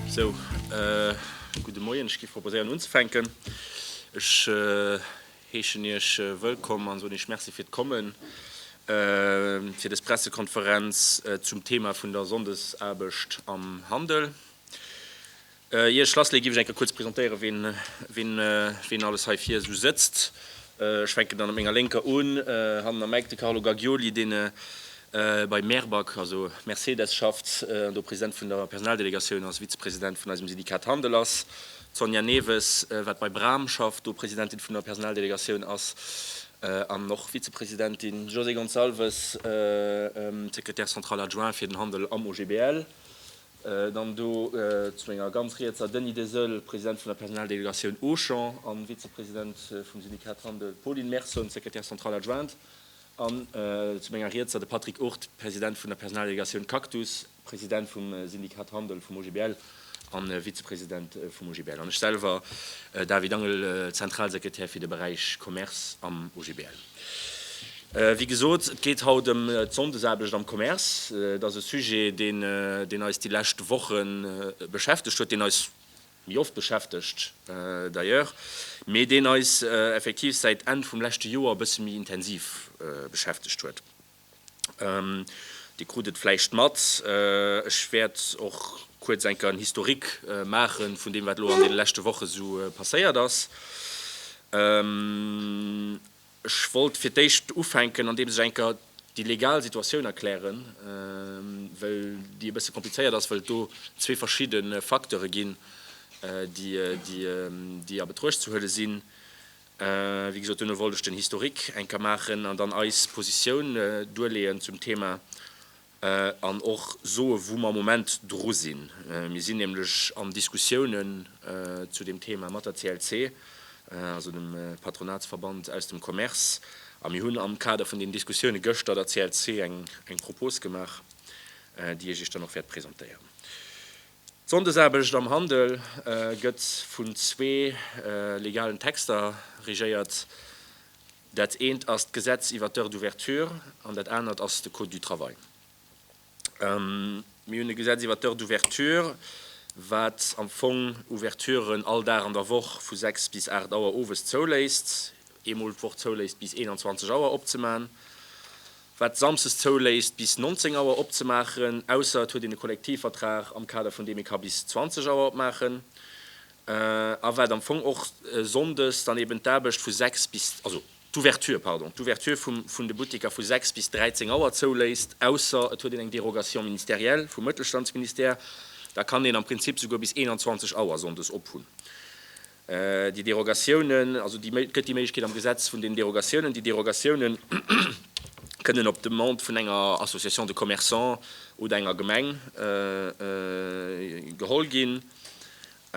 Sou, gudde Moien. Ech géif proposéieren unzefänken. Ech heeschen Iech wëllkomm an soen Iech Merci fir d'Kommen fir dës Pressekonferenz zum Thema vun der Sonndesaarbecht am Handel. Ier ech lassleeë giff ech eng Kéier kuerz presentéieren, ween alles hei vir esou sëtzt. Ech fänken dann op menger Lénker un, hannen am Eck de Carlo Gagghioli, deen bei Merbac, also Mercedes, schafft an do President vun der Personaldelegatioun ass, Vizepresident vun eisem Syndikat Handel ass. D'Sonja Newes, wat bei Bram schafft, do Presidentin vun der Personaldelegatioun ass an och Vizepresidentin. José Gonçalves, Secrétaire central adjoint fir den Handel am OGBL. Dann do zu menger ganz riets a Denis Deseul, President vun der Personaldelegatioun Auchan a Vizepresident vum Syndikat Handel, Pauline Merson, Secrétaire centrale adjointe, an zu menger riets a de Patrick Ourth, President vun der Personaldelegatioun Cactus, President vum Syndikat Handel vum OGBL a Vizepresident vum OGBL, an ech selwer, David Angel, Zentralsekretär fir de Beräich Commerce am OGBL. Wéi gesot, et geet haut ëm d'Sonndesaarbecht am Commerce. Et ass e Sujet, deen eis déi lescht Woche beschäftegt huet, deen eis méi oft beschäftegt d'ailleurs, mee deen eis effektiv säit Enn vum leschte Joer e bësse méi intensiv beschäftegt huet. Dir krut et vläicht mat, ech wäert och kuerz enker en Historique maache vun deem, wat elo an deene leschte Woche esou passéiert ass. Ech wollt fir d'éischt ufänken, andeems ech enker déi legal Situatioun erklären, well déi e bësse komplizéiert ass, well et do zwee verschidde Facteure ginn, déi a Betruecht ze huele sinn. Wéi gesot, duerno wollt ech den Historique eng Kéier maachen an dann eis Positioun duerleeën zum Thema an och soe wou mer am Moment dru sinn. Mir sinn nämlech an Diskussiounen zu deem Thema mat der CLC, also dem Patronatsverband aus dem Commerce, a mir hunn am Kader vun deenen Diskussioune gëschter der CLC eng Propos gemaach, déi ech Iech dann och wäert presentéieren. D'Sonndesaarbecht am Handel gëtt vun zwee legalen Texter regéiert. Dat eent ass d'Gesetz iwwert d'Heures d'ouverture an dat anert ass de Code du travail. Mir hunn e Gesetz iwwert d'Heures d'ouverture, wat am Fong Ouverturen all Dag an der Woch vu 6 bis 8 Auer owes zouléisst, eemol d'Woch zouléisst bis 21 Auer opzemachen. wat Samsdes zouléisst bis 19 Auer opzemaachen, ausser et huet een e Kollektivvertrag am Kader vun deem ee ka bis 20 Auer opmaachen, a wat am Fong och Sonndes dann eben d'Aarbecht vu 6 bis, also d'Ouverture, pardon, d'Ouverture vum vun de Butteker vu 6 bis 13 Auer zouléisst, ausser et huet een eng Dérogation ministérielle vum Mëttelstandsministère, da kann een am Prinzip souguer bis 21 Auer Sonndes ophunn. Déi Derogatiounen, also et gëtt déi Méiglechkeet am Gesetz vun den Derogatiounen, déi Derogatiounen kënnen op Demande vun enger Association de commerçants oder enger Gemeng geholl ginn.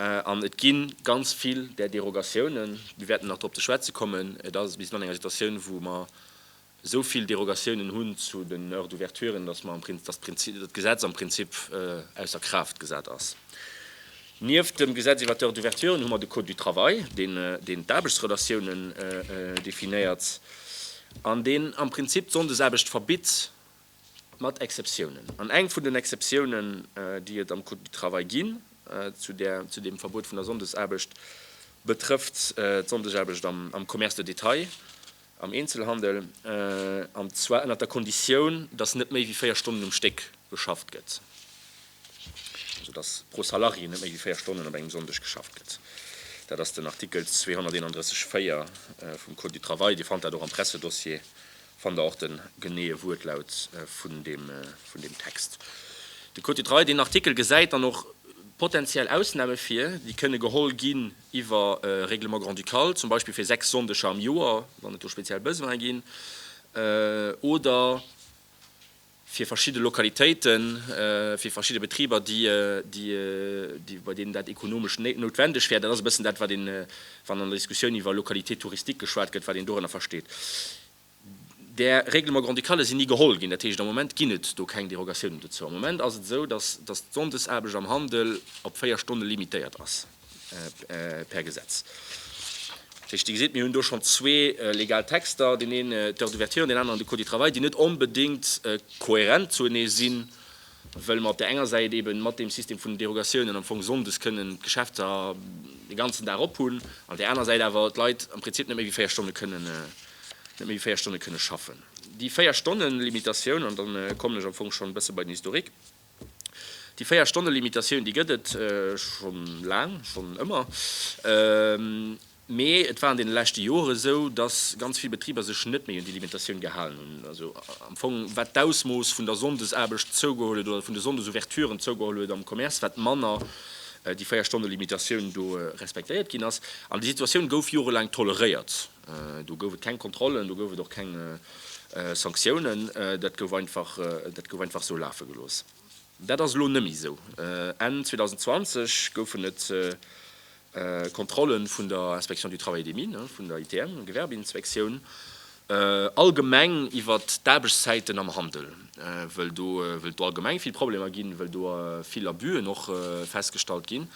An et gi ganz vill där Derogatiounen, mir wäerten nach dorop ze schwätze kommen, et ass, mir sinn an enger Situatioun, wou mer esou vill Derogatiounen hunn zu den Heures d'ouverturen, dass mer am Prinzip, dass d'Prinzip, dass d'Gesetz am Prinzip ausser Kraaft gesat ass. Nieft dem Gesetz iwwert d'Heures d'ouverturen hu mer de Code du travail, deen, deen d'Aarbechtsrelatiounen definéiert an deen am Prinzip d'Sonndesaarbecht verbitt, mat Exceptiounen. An eng vun den Exceptiounen, déi et am Code du travail ginn zu där, zu deem Verbot vun der Sonndesaarbecht, betrëfft d'Sonndesaarbecht am Commerce de détail. am Eenzelhandel, an zwar ënnert der Konditioun, dass net méi wéi 4 Stonnen um Stéck geschafft gëtt, also dass pro Salarié net méi wéi 4 Stonnen op engem Sonndeg geschafft gëtt. Dat ass den Artikel 231, 4 vum Code du travail. Dir fannt dat och am Pressedossier, fannt Der och de geneeë Wuertlaut vun deem Text. De Code du travail, deen Artikel, gesäit dann och potentiell Ausname vir, déi kënne geholl ginn, iwwer e Règlement grand-ducal, zum Beispill fir sechs Sonndeger am Joer, wann et do speziell Besoinë ginn, oder fir verschidde Lokalitéiten, fir verschidde Betriber, bei deenen dat ekonomesch noutwendeg wär. Dat ass e bëssen dat, wat een, wann an der Diskussioun iwwer Localités touristiques geschwat gëtt, wat een dorënner versteet. Där Règlement grand-ducale sinn ni geholl ginn. Dat heescht, am Moment ginn et do keng Derogatiounen dozou. Am Moment ass et esou, dass dass d'Sonndesaarbecht am Handel op véier Stonne limitéiert ass per Gesetz. Dat heescht, Dir gesitt, mir hunn do schonn zwee legal Texter, deen een d'Heure d'ouverture an deen aneren de Code du travail, déi net onbedéngt kohärent zuenee sinn. wëll mer op där enger Säit eben mat deem System vun den Derogatiounen am Fong sonndes kënnen d'Geschäfter de ganzen Dag op hunn, an där aner Säit awer d'Leit am Prinzip net méi wéi véier Stonne kënnen, net méi wéi véier Stonne kënnen schaffen. Déi Véier-Stonnen-Limitatioun, an dann kommen ech am Fong schonn e bësse bei den Historique, déi Véier-Stonnen-Limitatioun, déi gëtt et schonn laang, schonn ëmmer. Mee et war an deene leschte Joren esou, dass ganz vill Betriber sech net méi un déi Limitatioun gehalen hunn. Also am Fong, wat d'Ausmooss vun der Sonndesaarbecht zougeholl huet oder vun de Sonndesouverturen zougeholl huet am Commerce, wat manner déi Véierstonne-Limitatioun do respektéiert ginn ass. An déi Situatioun gouf jorelaang toleréiert. Do gouf et keng Kontrollen, do gouf et och keng Sanktiounen. Dat gouf einfach, dat gouf einfach esou lafe gelooss. Dat ass elo nëmme esou. Enn 2020 goufen et Kontrollen vun der Inspection du Travail et des Mines, vun der ITM, Gewerbeinspektioun, allgemeng iwwer d'Aarbechtszäiten am Handel, wëll do wëll do allgemeng vill Problemer ginn, wëll do vill Abus'en och festgestallt ginn.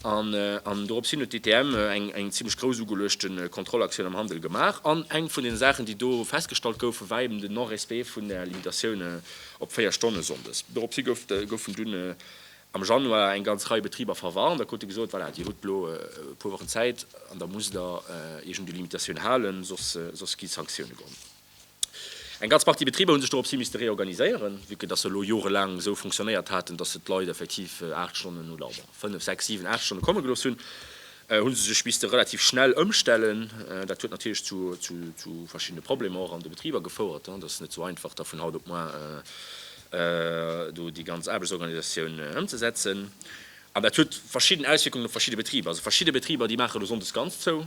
An an dorops hin huet d'ITM eng eng zimlech grouss ugeluechte Kontrollaktioun am Handel gemaach. An eng vun den Saachen, déi do festgestallt goufen, war eben den Non-respect vun der Limitatioun op 4 Stonne sonndes. Dorops hi gouf goufen dunn am Januar eng ganz Rei Betriber verwarnt a krute gesot, voilà, Dir hutt elo e puer Wochen Zäit an da musst Der Iech un déi Limitatioun halen, soss gi Sanktioune geholl. Eng ganz Partie Betriber hu sech doropshi misste reorganiséieren, vue que dass se elo jorelaang esou fonctionnéiert haten, dass se d'Leit effektiv aacht Stonnen oder bon, fënnef, sechs, siwen, aacht Stonne komme gelooss hunn, hu se sech misste relativ schnell ëmstellen. Dat huet natierlech zu verschiddene Problemer och an de Betriber gefouert, et ass net esou einfach, da vun haut op muer do déi ganz Aarbechtsorganisatioun ëmzesetzen. An dat huet verschidden Auswierkungen op verschidde Betriber. Also verschidde Betriber, déi maache elo sonndes ganz zou.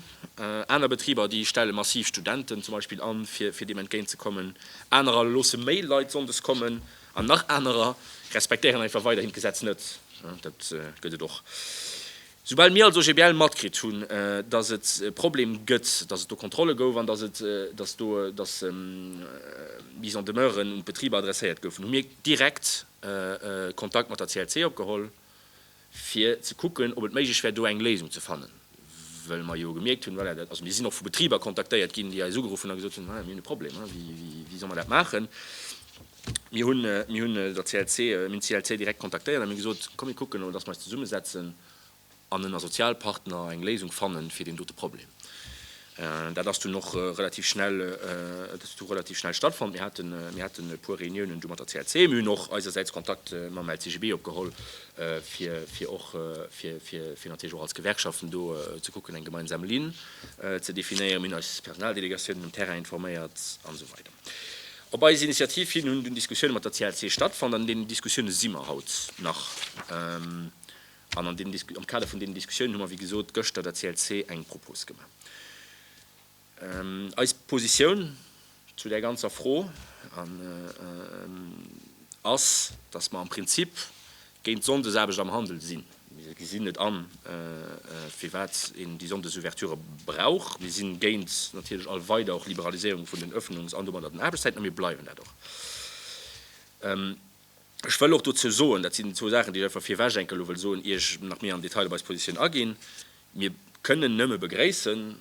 Aner Betriber, déi stelle massiv Studenten zum Beispill an, fir deem entgéint ze kommen. Anerer loosse méi Leit sonndes kommen. An nach anerer respektéieren einfach weiderhin d'Gesetz net. Dat gëtt et och. Soubal mir als OGBL matkritt hunn, dass et e Problem gëtt, dass et do Kontrolle gouf an dass et, dass do, dass Mises en demeure un d'Betriber adresséiert goufen, hu mir direkt Kontakt mat der CLC opgeholl, fir ze kucken, ob et méiglech wär, do eng Léisung ze fannen, well mer jo gemierkt hunn, voilà, also mir sinn och vu Betriber kontaktéiert ginn, déi eis ugeruff hunn a gesot hunn, voilà, mir hunn e Problem, wéi solle mer dat maachen? Mir hunn de CLC direkt kontaktéiert a mir hunn gesot, komm mir kucken emol, dass mer eis zesummesetzen an ënner Sozialpartner eng Léisung fannen, fir deen dote Problem. Dat ass dunn och relativ schnell stattfonnt. Mir haten e puer Reuniounen do mat der CLC. Mir hunn och eisersäits Kontakt mam LCGB opgeholl, fir och natierlech och als Gewerkschaften do ze kucken, eng gemeinsam Linn ze definéieren. Mir hunn eis Personaldelegatioun um Terrain informéiert, an esou weider. Op eis Initiativ hin hunn dunn Diskussioune mat der CLC stattfonnt. An deenen Diskussioune si mer haut nach. An an deenen, am Kader vun deenen Diskussiounen hu mer, wéi gesot, gëschter der CLC eng Propos gemaach. Eis Positioun zu där ganzer Fro ass, dass mer am Prinzip géint d'Sonndesaarbecht am Handel sinn. Mir gesinn net an, firwat een déi Sonndesouverture brauch. Mir si géint natierlech all weider och Liberaliséierung vun den Öffnungs an domadder den Aarbechtszäiten, a mir bleiwen dat och. Ech wëll och dozou soen, dat sinn zwou Saachen, déi ech einfach virwech enke lo wëll soen, ier ech nach méi am Detail op eis Positioun aginn, Mir kënnen nëmme begréissen,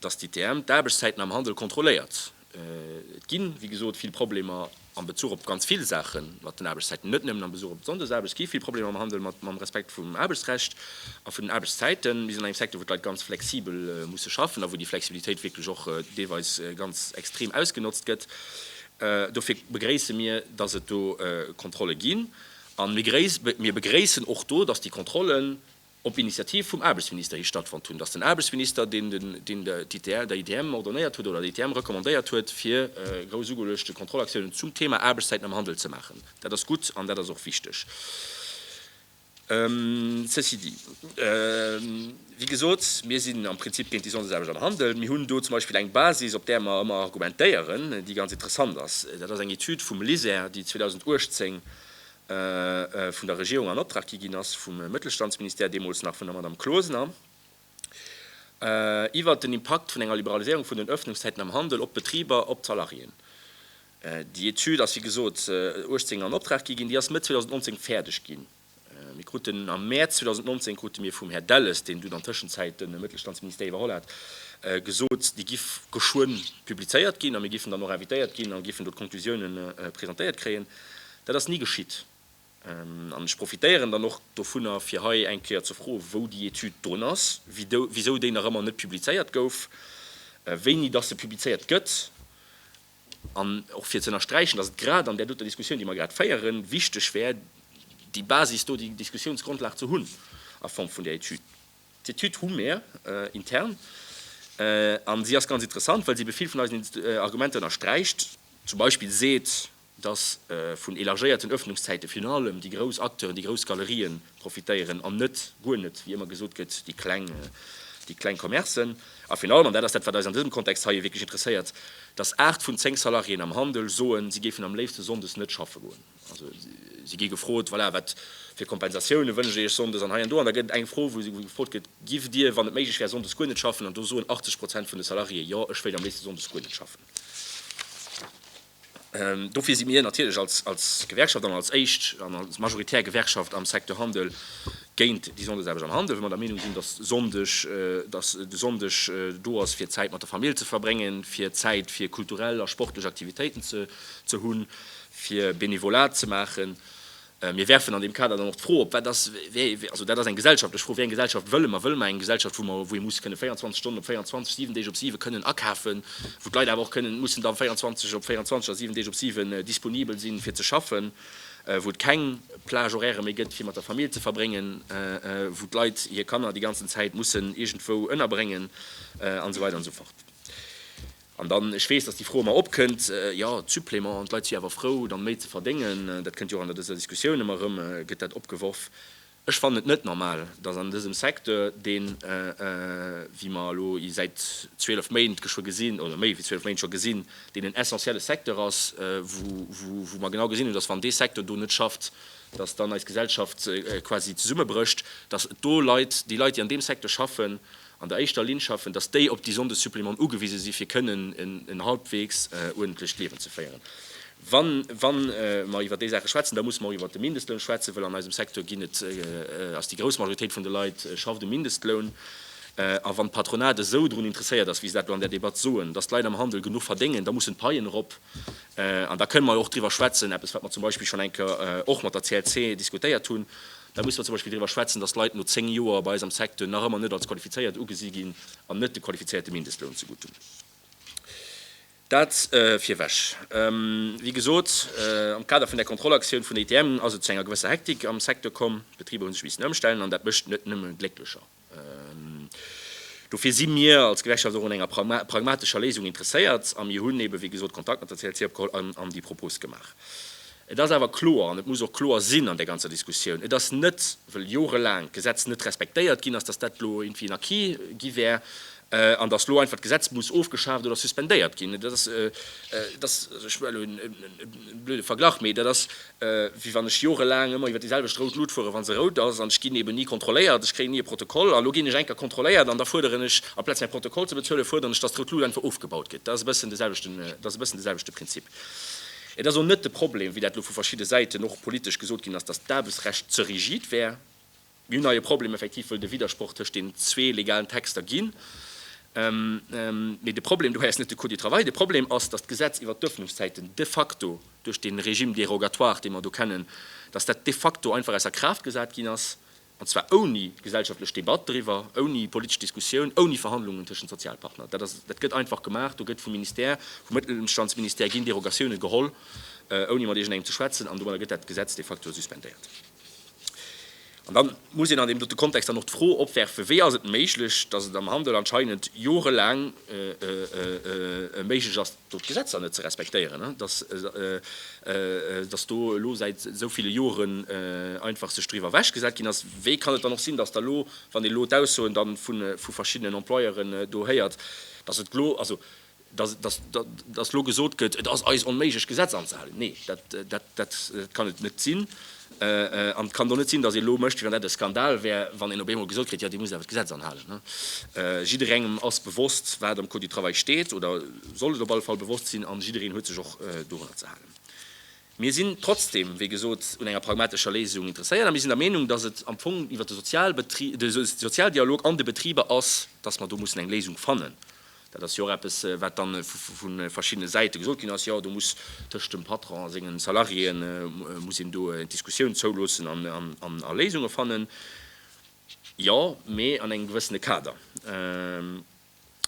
dass d'ITM d'Aarbechtszäiten am Handel kontrolléiert. Et gi wéi gesot vill Problemer am Bezuch op ganz vill Saache mat den Aarbechtszäiten, net nëmmen am Besuch op d'Sonndesaarbecht. Et gi vill Problemer am Handel mat mam Respekt vum Aarbechtsrecht a vun den Aarbechtszäiten. Mir sinn an engem Secteur, wou d'Leit ganz flexibel musse schaffen a wou déi Flexibilitéit wierklech och deelweis ganz extrem ausgenotzt gëtt. Dofir begréisse mir, dass et do Kontrolle ginn. A mir begréissen och do, dass déi Kontrollen, op Initiativ vum Aarbechtsminister hi stattfonnt hunn, datt den Aarbechtsminister, deen der ITM ordonnéiert huet oder der ITM recommandéiert huet, fir grouss ugeluechte Kontrollaktiounen zum Thema Aarbechtszäiten am Handel ze maachen. Dat ass gutt an dat ass och wichteg. Ceci dit, wéi gesot, mir sinn am Prinzip géint déi Sonndesarbecht am Handel. Mir hunn do zum Beispill eng Basis, op där mer ëmmer argumentéieren, déi ganz interessant ass. Dat ass eng Etüd vum LISER, déi 2018 vun der Regierung an Optrag gi ginn ass, vum Mëttelstandsministère, deemools nach vun der Madame Closener, iwwert den Impakt vun enger Liberaliséierung vun den Öffnungszäiten am Handel op d'Betriber, op d'Salariéen. Déi Etüd ass, wéi gesot, 18 an Optrag gi ginn. Déi ass Mëtt 2019 fäerdeg ginn. Mir kruten am Mäerz 2019 krute mir vum Här Delles, deen dunn an Tëschenzäit de Mëttelstandsministère iwwerholl hat, gesot, déi giff geschwënn publizéiert ginn a mir giffen dann och invitéiert ginn a giffen do d'Conclusiounen presentéiert kréien. Dat ass ni geschitt. An ech profitéieren dann och dovunner, fir hei eng Kéier ze froen, wou déi Etüd drun ass, wisou déi nach ëmmer net publizéiert gouf, wéini dass se publizéiert gëtt, an och fir ze ënnersträichen, dass et grad an där doter Diskussioun, déi mer grad féieren, wichteg wär, déi Basis do, déi Diskussionsgrundlag ze hunn a Form vun där Etüd. D'Etüd hu mir intern, a si ass ganz interessant, well si ebe vill vun eisen Argumenter ënnersträicht, zum Beispill seet, dass vun élargéierten Öffnungszäite virun allem déi grouss Acteuren, déi grouss Galerien profitéieren an net, guer net, wéi ëmmer gesot gëtt, déi kleng, déi kleng Commercen. A virun allem, an dat ass dat, wat eis an dësem Kontext hei wierklech interesséiert, dass aacht vun zéng Salariéen am Handel soen, si géifen am léifsten sonndes net schaffe goen. Also, si gi gefrot, voilà, wat fir Kompensatiounen wënscht Dir Iech sonndes? An hei an do, an da gëtt et eng Fro, wou gefrot gëtt, Giff Dir, wann et méiglech wär, sonndes guer net schaffen? An do soen 80 Prozent vun de Salariéë, Jo, ech wéilt am léifsten sonndes guer net schaffen. Dofir si mir natierlech als Gewerkschaft an als éischt an als majoritär Gewerkschaft am Secteur Handel géint déi Sonndesaarbecht am Handel, well mer der Meenung sinn, dass de Sonndeg do ass, fir Zäit mat der Famill ze verbréngen, fir Zäit fir kulturell a sportlech Aktivitéiten ze hunn, fir Benevolat ze maachen. Mir werfen an deem Kader dann och d'Fro op, wat ass, also dat ass eng gesellschaftlech Fro, wéi eng Gesellschaft wëlle mer? Wëlle mer eng Gesellschaft, wou mer, wou ee muss kënne 24 Stonnen op 24, 7 Deeg op 7 kënnen akafen, wou d'Leit awer och kënnen, mussen dann 24 op 24 a 7 Deeg op 7 disponibel sinn, fir ze schaffen, wou et keng Plage horaire méi gëtt, fir mat der Famill ze verbréngen, wou d'Leit hir Kanner déi ganzen Zäit mussen iergendwou ënnerbréngen, an esou weider an esou fort. An dann, ech weess, dass déi Fro ëmmer opkënnt, jo, d'Suppléments, d'Leit si awer frou, dann méi ze verdéngen. Dat kënnt jo och an der dëser Diskussioun ëmmer erëm, gëtt dat opgeworf. Ech fannen et net normal, dass an dësem Secteur, deen, wéi mer elo i säit 12 Méint geschwë gesinn, oder méi wéi 12 Méint scho gesinn, deen en essentielle Secteur ass, wou, wou, wou mer genau gesinn hunn, dass wann dee Secteur do net schafft, dass dann eis Gesellschaft quasi zesummebrécht, dass et do Leit, déi Leit, déi an deem Secteur schaffen, an der éischter Linn schaffen, datt déi op déi Sonndessupplémenten ugewise si fir kënnen en halbwegs uerdentlecht Liewen ze féieren. Wa mer iwwer déi Saache schwätzen, da musse mer och iwwer de Mindestloun schwätzen, wëll an eisem Secteur ginn et ass déi grouss Majoritéit vun de Leit schafft um Mindestloun. A wann d'Patronat esou drun interesséiert ass, wéi se dat do an där Debatt soen, datt d'Leit am Handel genuch verdéngen, da mussen d'Paien erop. An da kënnen mer jo och driwwer schwätzen, eppes wat mer zum Beispill schonn eng Kéier och mat der CLC diskutéiert hunn, Da musse mer zum Beispill driwwer schwätzen, dass Leit no zéng Joer bei eis am Secteur nach ëmmer net als qualifizéiert ugesi ginn an net de qualifizéierte Mindestloun zegutt hunn. Dat virweg. Wéi gesot, am Kader vun der Kontrollaktioun vun der ITM ass et zu enger gewësser Hektik am Secteur komm. D'Betriber hu sech missen ëmstellen an dat mécht net nëmme glécklecher. Dofir si mir als Gewerkschaft och un enger pragmatescher Léisung interesséiert a mir hunn eebe wéi gesot Kontakt mat der CLC opgeholl an déi Propos gemaach. Et ass awer kloer, an et muss och kloer sinn an där ganzer Diskussioun, et ass net, wëll jorelaang d'Gesetz net respektéiert ginn ass, datt dat elo iergendwéi en Acquis gi wär. an datt elo einfach d'Gesetz muss ofgeschaaft oder suspendéiert ginn, dat ass, dat ass, also ech well elo e blöde Verglach, mee dat ass, wéi wann ech jorelaang ëmmer iwwer déi selwecht rout Lut fueren, wa se rout ass, an ech ginn eben ni kontrolléiert, ech kréien ni e Protokoll, an elo ginn ech eng Kéier kontrolléiert an da fuerderen ech, amplaz mäi Protokoll ze bezuelen, fuerderen ech, datt d'rout Lut einfach ofgebaut gëtt. Dat ass e bëssen de selwechten, dat ass e bëssen de selwechte Prinzip. Et ass och net de Problem, wéi dat elo vu verschidde Säiten och politesch gesot ginn ass, datt d'Aarbechtsrecht ze rigid wär. Mir hunn hei e Problem effektiv, wëll et e Widdersproch tëscht den zwee legalen Texter ginn. Mee de Problem dohei ass net de Cours du travail. De Problem ass, dass d'Gesetz iwwert d'Öffnungszäiten de facto duerch dee Régime dérogatoire, dee mer do kennen, dass dat de facto einfach ausser Kraaft gesat ginn ass, an zwar ouni gesellschaftlech Debatt driwwer, ouni politesch Diskussioun, ouni Verhandlungen tëschent Sozialpartner. Dat ass, dat gëtt einfach gemaach. Do gëtt vum Ministère, vum Mëttelstandsministère ginn Derogatiounen geholl, ouni mat iergendengem ze schwätzen, an domadder gëtt dat Gesetz de facto suspendéiert. An da muss een an deem dote Kontext dann och d'Fro opwerfen, Wéi ass et méiglech, datt et am Handel anscheinend jorelaang méiglech ass, do d'Gesetzer net ze respektéieren, datt do elo säit esou ville Joren einfach sech driwwer ewech gesat ginn ass? Wéi kann et dann och sinn, datt da elo, wann ee elo d'Aussoen da vu verschiddenen Employeuren do héiert, datt et glo, also Datt elo gesot gëtt, et ass eis onméiglech d'Gesetz anzehalen, nee, dat kann et net sinn. An et kann och net sinn, datt ee elo mécht, wéi wann dat e Skandal wär, wann een op eemol gesot kritt, jo, Dir musst awer d'Gesetz anhalen. Jidderengem ass bewosst, wat am Code du travail steet, oder sollt et op alle Fall bewosst sinn, a jiddereen huet sech och dorunner ze halen. Mir sinn trotzdem, wéi gesot, un enger pragmatescher Léisung interesséiert a mir sinn der Meenung, datt et am Fong iwwert de Sozialdialog an de Betriber ass, datt mer do mussen eng Léisung fannen. Dat ass jo och eppes, wat dann vu verschiddene Säite gesot ginn ass, jo, do muss tëscht dem Patron a senge Salariéë muss een do d'Diskussioun zouloossen an a Léisunge fannen. Jo, mee an engem gewëssene Kader.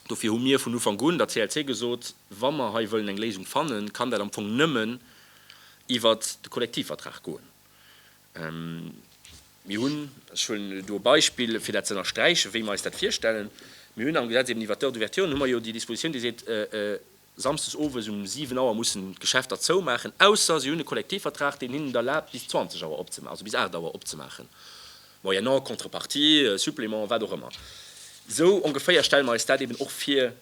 Dofir hu mir vun Ufank un der CLC gesot, wa mer hei wëllen eng Léisung fannen, kann dat am Fong nëmmen iwwert de Kollektivvertrag goen. Mir hunn, ech huelen elo do e Beispill, fir dat ze ënnersträichen, wéi mer eis dat virstellen, mir hunn am Gesetz eben iwwert d'Heures d'ouverture, hu mer jo déi Dispositioun, déi seet, samsdes owes um siwen Auer mussen d'Geschäfter zoumaachen, ausser se hunn e Kollektivvertrag, deen hinnen et erlaabt, bis zwanzeg Auer opzemaachen, also bis aacht Auer opzemaachen, moyennant Contrepartie, Supplément, wat och ëmmer. Esou ongeféier stelle mer eis dat eben och vir.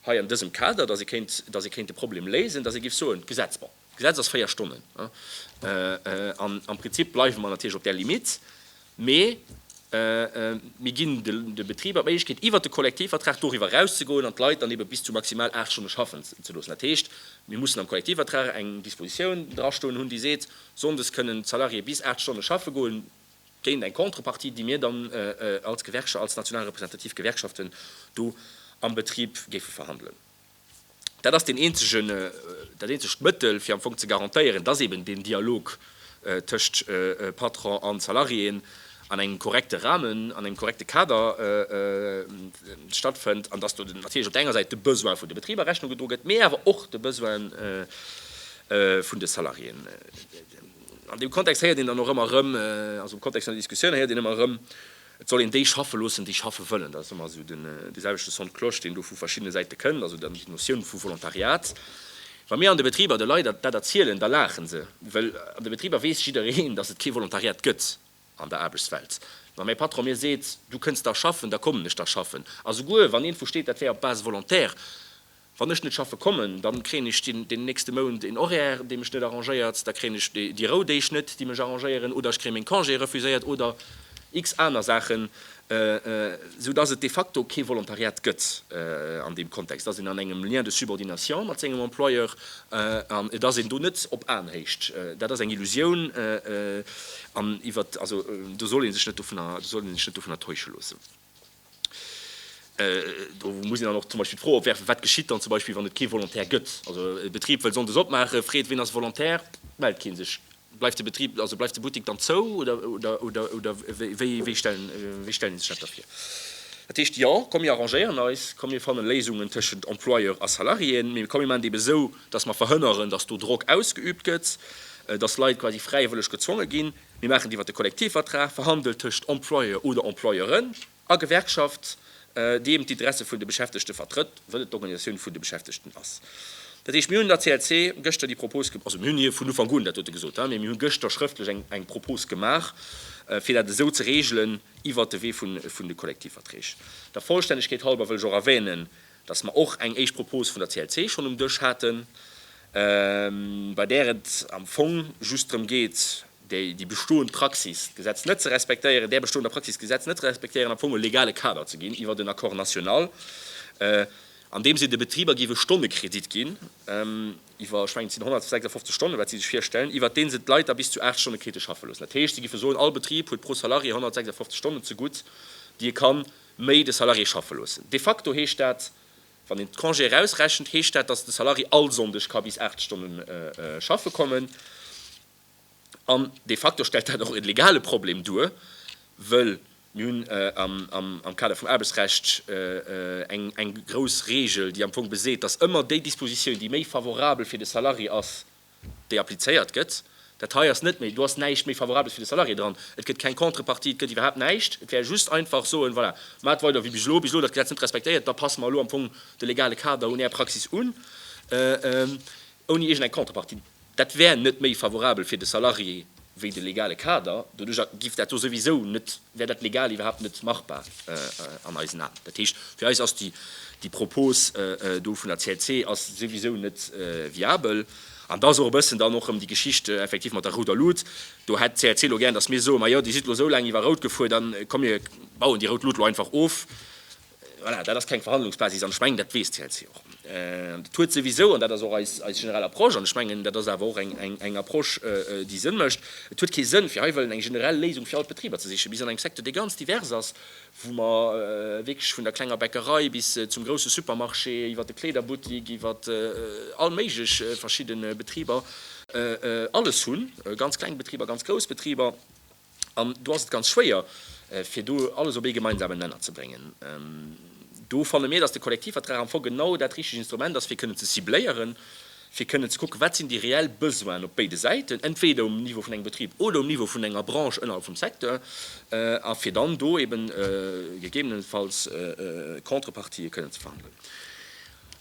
hei an dësem Kader, dass ee kéint, dass ee kéint de Problem léisen, dass ee géif soen, d'Gesetz, bon, d'Gesetz ass véier Stonnen, an am Prinzip bleiwe mer natierlech op där Limitt, mee mir ginn de Betriber d'Méiglechkeet, iwwert de Kollektivvertrag doriwwer erauszegoen an d'Leit dann eebe bis zu maximal aacht Stonne schaffen ze loossen. Dat heescht, mir mussen am Kollektivvertrag eng Dispositioun drastoen hunn, déi seet, sonndes kënnen d'Salariéeë bis aacht Stonne schaffe goen. géint eng Contrepartie, déi mir dann als Gewerkschaft, als national representativ Gewerkschaften do am Betrib géife verhandelen. Dat ass deen eenzegen, dat eenzegt Mëttel, fir am Fong ze garantéieren, dass eeben deen Dialog tëscht Patron an Salariéen an engem korrekte Rahmen, an engem korrekte Kader stattfënnt an dass do natierlech op der enger Säit de Besoine vun de Betriber Rechnung gedro gëtt, mee awer och de Besoine vun de Salariéen. An deem Kontext héiert een dann och ëmmer erëm, also am Kontext vun der Diskussioun héiert een ëmmer erëm, et soll een déi schaffe loossen, déi schaffe wëllen. Dat ass ëmmer esou dee selwechte Son de cloche, deen do vu verschiddene Säite kënnt, also dann déi Notioun vu Volontariat. Wa mir an de Betriber de Leit dat erzielen, da laache se, well an de Betriber weess jiddereen, datt et kee Volontariat gëtt. an der Aarbechtswelt. Wa mäi Patron mir seet, du kënns da schaffen, da kommen ech da schaffen. A souguer wann iergendwou steet, dat wär op Base volontaire, wann ech net schaffe kommen, dann kréien ech den nächste Mount en Horaire, dee mech net arrangéiert, da kréien ech déi Rou-Deeg net, déi mech arrangéieren, oder ech kréie meng Congé refuséiert oder x aner Saachen, esou dass et de facto kee Volontariat gëtt an deem Kontext, dass een an engem Lien de subordination mat sengem Employeur an et ass een do net op Aenhéicht. Dat ass eng Illusioun an iwwer also do soll ee sech net dovunner do soll ee sech net dovunner täusche loossen. Do muss een dann och zum Beispill d'Fro opwerfen, wat geschitt dann zum Beispill, wann et kee Volontaire gëtt? Also e Betrib wëll sonndes opmaachen, freet, wien ass Volontaire? Mellt kee sech. Bleift de Betrib, also bleift de Buttik dann zou oder wéi stellen Dir sech dat da vir? Dat heescht, jo, komm mir arrangéieren eis, komm mir fanne Léisungen tëschent Employeur a Salariéen, mee komm mir maachen et eben esou, datt mer verhënneren, datt do Drock ausgeübt gëtt, datt Leit quasi fräiwëlleg gezwonge ginn. Mir maachen et iwwert de Kollektivvertrag, verhandelt tëschent Employeur oder Employeuren. A Gewerkschaft, déi eben d'Interesse vun de Beschäftegte vertrëtt, wëll et d'Organisatioun vun de Beschäftegten ass. Dat heescht, mir hunn der CLC gëschter déi Propos gemaach, also mir hunn hir vun Ufank un, dat huet e gesot, mä mir hu gëschter schrëftlech eng eng Propos gemaach, fir dat esou ze regelen iwwert de Wee vun vun de Kollektivverträg. Der Vollstännegkeet halber wëll ech och erwänen, dass mer och eng éischt Propos vun der CLC schonn um Dësch haten, bei där et am Fong just drëm geet, déi déi bestoend Praxis, d'Gesetz net ze respektéieren, där bestoender Praxis, d'Gesetz net ze respektéieren, am Fong e legale Kader ze ginn iwwert en Accord national, an deem si de Betriber géif e Stonnekredit ginn, iwwer, ech mengen, et sinn 156 Stonnen, wat si sech virstellen, iwwert dee se d'Leit da bis zu 8 Stonne krite schaffen loossen. Dat heescht, si géife soen, all Betrib huet pro Salarié 156 Stonnen zegutt, déi e ka méi de Salarié schaffe loossen. De facto heescht dat, wann een d'Congé erausrechent, heescht dat, datt de Salarié all Sonndeg ka bis 8 Stonne schaffe kommen. An de facto stellt dat och e legale Problem duer, wëll mir hunn am Kader vum Aarbechtsrecht eng grouss Reegel, déi am Fong beseet, dass ëmmer déi Dispositioun, déi méi favorabel fir de Salarié ass, déi applizéiert gëtt. Dat hei ass net méi, do ass näischt méi Favorabels fir de Salarié dran, et gëtt keng Contrepartie, et gëtt iwwerhaapt näischt. Et wär just einfach soen, voilà, maacht weider wéi bis elo, bis elo dat Gesetz net respektéiert, da passe mer elo am Fong de legale Kader un Är Praxis un, ouni iergend eng Contrepartie. Dat wär net méi favorabel fir de Salarié wéi de legale Kader. Doduercher géif dat do souwisou net, wär dat legal iwwerhaapt net machbar an eisen Aen. Dat heescht, fir eis ass déi Propos do vun der CLC ass souwisou net viabel. An da ass och e bëssen dann och erëm déi Geschicht effektiv mat der rouder Lut. Do hätt d'CLC elo gär, datt mir soe, Majo, Dir sidd elo esou laang iwwer rout gefuer, da komm mir bauen déi rout Lut elo einfach of. Voilà, dat ass keng Verhandlungsbasis an ech mengen, dat weess d'CLC och. Dat huet souwisou, an dat ass och eis generell Approche, an ech mengen, dat ass awer och eng Approche, déi Sënn mécht, et huet kee Sënn, fir hei wëllen eng generell Léisung fir all d'Betriber ze sichen. Mir sinn an engem Secteur, dee ganz divers ass, wou mer wierklech vun der klenger Bäckerei bis zum grousse Supermarché, iwwert de Kleederbuttik, iwwert all méiglech verschidde Betriber alles hunn, ganz kleng Betriber, ganz grouss Betriber. An do ass et ganz schwéier, fir do alles op ee gemeinsamen Nenner ze bréngen. Do fanne mir, datt de Kollektivvertrag am Fong genau dat richteg Instrument ass, fir kënnen ze cibléieren, fir kënnen ze kucken, wat sinn déi reell Besoinen op béide Säiten, entweeder um Niveau vun engem Betrib oder um Niveau vun enger Branche ënnerhalb vum Secteur, a fir dann do eeben gegebenenfalls Contrepartië kënnen ze verhandelen.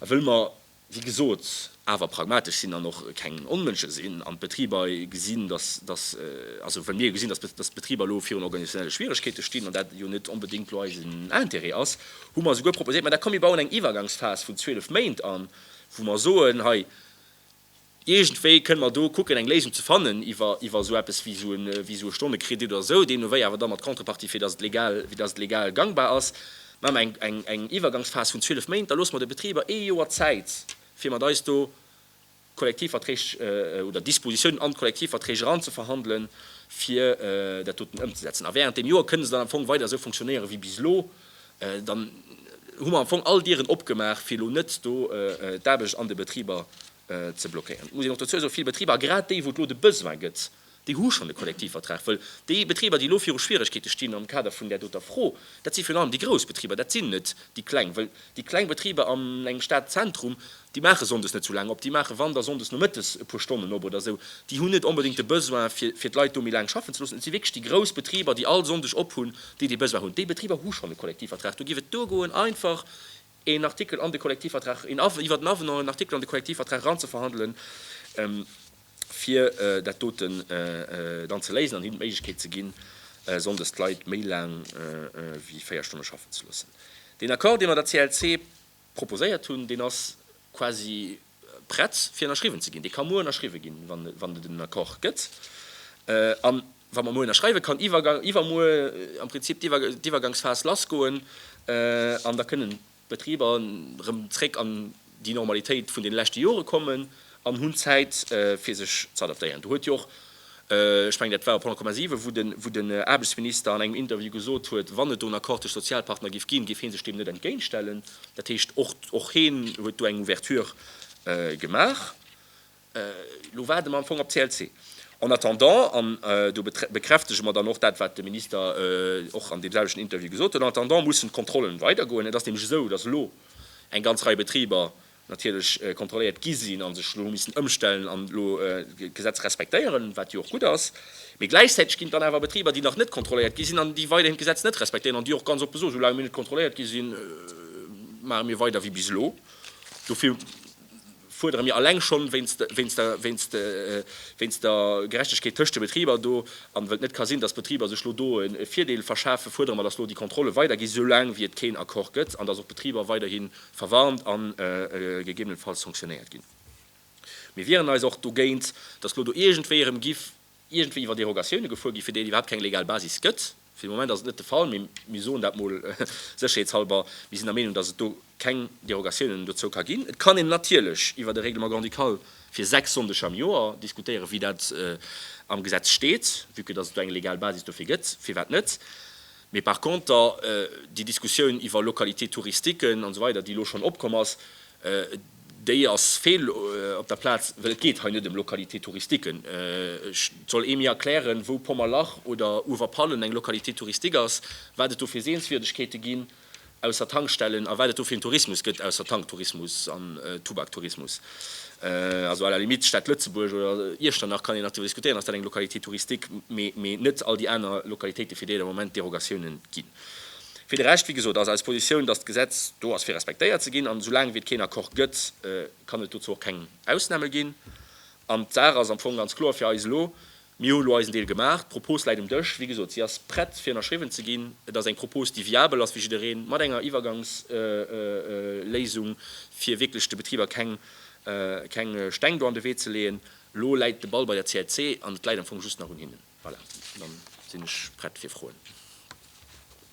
A wëll mer wéi gesot, awer pragmatesch sinn an och keng Onmënsche sinn an d'Betriber gesinn, dass, dass, also well mir jo gesinn, dass, dass d'Betriber elo virun organisationelle Schwierigkeete stinn an dat jo net onbedéngt elo eisen Intérêt ass, hu mer souguer proposéiert, mä da komm mir bauen eng Iwwergangsphas vun 12 Méint an, wou mer soen, hei, Iergendwéi kënne mer do kucken, eng Léisung ze fannen iwwer iwwer esou eppes wéi esou e wéi esou e Stonnekredit oder esou, deemnowéi awer da mat Contrepartie, fir datt et legal fir datt et legal gangbar ass. Maache mer eng eng eng Iwwergangsphas vun zwielef Méint, da loosse mer de Betriber ee Joer Zäit, fir mat eis do Kollektivverträg oder Dispositiounen an d'Kollektivverträg eranzeverhandelen, fir dat doten ëmzesetzen. A während deem Joer kënne se dann am Fong weider esou fonctionnéiere wéi bis elo. Dann hu mer am Fong all Dieren opgemaach, fir elo net do d'Aarbecht an de Betriber ze blockéieren. Et muss een och dozou soen, vill Betriber, a grad déi wou et elo de Besoin gëtt, déi hu schonn de Kollektivvertrag. Wëll déi Betriber déi elo viru Schwieregkeete stinn am Kader vun där doter Fro, dat si virun allem déi grouss Betriber, dat sinn net déi kleng. Wëll déi kleng Betriber an engem Stadzentrum, déi maache sonndes net esou laang op, déi maache wann da sonndes nomëttes e puer Stonnen op oder esou, déi hunn net onbedéngt de Besoin fir fir d'Leit do méi laang schaffen ze loossen. Et si wierklech déi grouss Betriber déi all Sonndeg ophunn, déi dee Besoin hunn. Déi Betriber hu schonn e Kollektivvertrag. Do géif et duergoen einfach, een Artikel an de Kollektivvertrag, een Avenant, iwwert en Avenant en Artikel an de Kollektivvertrag eranzeverhandelen, fir dat doten dann ze léisen an hinnen d'Méiglechkeet ze ginn, sonndes d'Leit méi laang wéi véier Stonne schaffen ze loossen. Deen Accord, dee mer der CLC proposéiert hunn, deen ass quasi, prett fir ënnerschriwwen ze ginn. Dee ka muer ënnerschriwwe ginn, wann et en Accord gëtt. A wa mer muer ënnerschreiwen, kann iwwermuer am Prinzip d'Iwwergangsphas lassgoen an da kënnen d'Betriber erëm zréck an déi Normalitéit vun deene leschte Jore kommen an hunn Zäit fir sech ze adaptéieren. Do huet jo och Ech mengen dat war op 100,7, wou den Aarbechtsminister an engem Interview gesot huet, wann et do en Accord tëscht Sozialpartner géif ginn, géif hee sech deem net entgéintstellen. Dat heescht, och hee huet do eng Ouverture gemaach. Elo waarde mer am Fong op d'CLC. En attendant, an do bekräftege mer dann och dat wat de Minister och an deem selwechten Interview gesot huet, en attendant mussen d'Kontrollen weidergoen. Et ass nämlech esou, datt elo eng ganz Rei Betriber natierlech kontrolléiert gi sinn a sech elo missen ëmstellen an elo d'Gesetz respektéieren, wat jo och gutt ass. Mee gläichzäiteg ginn et dann awer Betriber, déi nach net kontrolléiert gi sinn an déi weiderhin d'Gesetz net respektéieren an déi och ganz oppe soen, Soulaang mir net kontrolléiert gi sinn, maache mir weider wéi bis elo. Dofir fuerdere mir alleng schonn wéinst der Gerechtegkeet tëscht de Betriber do an well et net ka sinn, dass d'Betriber sech elo do e Virdeel verschafen, fuerdere mer, dass elo déi Kontrolle weiderginn, soulaang wéi et keen Accord gëtt an dass och d'Betriber weiderhin verwarnt a gegebenenfalls sanktionéiert ginn. Mir wieren eis och dogéint, datt elo do iergendwéi erëm giff iergendwéi iwwer Derogatioune gefuer gi fir déi et iwwerhaapt keng legal Basis gëtt. Fir de Moment ass et net de Fall, mee mir soen dat mol sécherheetshalber, mir sinn der Meenung, datt et do keng Derogatiounen dozou ka ginn. Et kann een natierlech iwwer e Règlement grand-ducal fir sechs Sonndeg am Joer diskutéieren, wéi dat am Gesetz steet, vue que datt et do eng legal Basis dofir gëtt, firwat net. Mee par conter, déi Diskussioun iwwer Localités touristiquen an esou weider, déi elo schonn opkomm ass, déi ass fehl op der Plaz, well et geet hei net ëm Localités touristiquen. Et soll ee mir erklären, wou Pommerlach oder Uewerpallen eng Localité touristique ass, wat et do fir Sehenswierdegkeete ginn, Ausser Tankstellen, a wat et do fir een Tourismus gëtt, ausser Tanktourismus an Tubaktourismus, also à la limite d'Stad Lëtzebuerg oder Iechternach kann een nach driwwer diskutéieren, ass dat eng Localité touristique, mee net all déi aner Localitéite fir déi et am Moment Derogatioune ginn. Fir de Rescht, wéi gesot, ass eis Positioun, datt d'Gesetz do ass fir respektéiert ze ginn, an esou laang wéi et keen Accord gëtt, kann et dozou och keng Ausname ginn. An d'Saach ass am Fong ganz kloer fir eis elo, Mir hu elo eisen Deel gemaach. D'Propos läit um Dësch. Wéi gesot, si ass prett fir ënnerschriwwen ze ginn. Et ass eng Propos, déi viabel ass fir jiddereen, mat enger Iwwergangsléisung, fir wierklech de Betriber keng keng Steng do an de Wee ze leeën. Elo läit de Ball bei der CLC an et läit am Fong just nach un hinnen. Voilà, dann sinn ech prett fir Froen.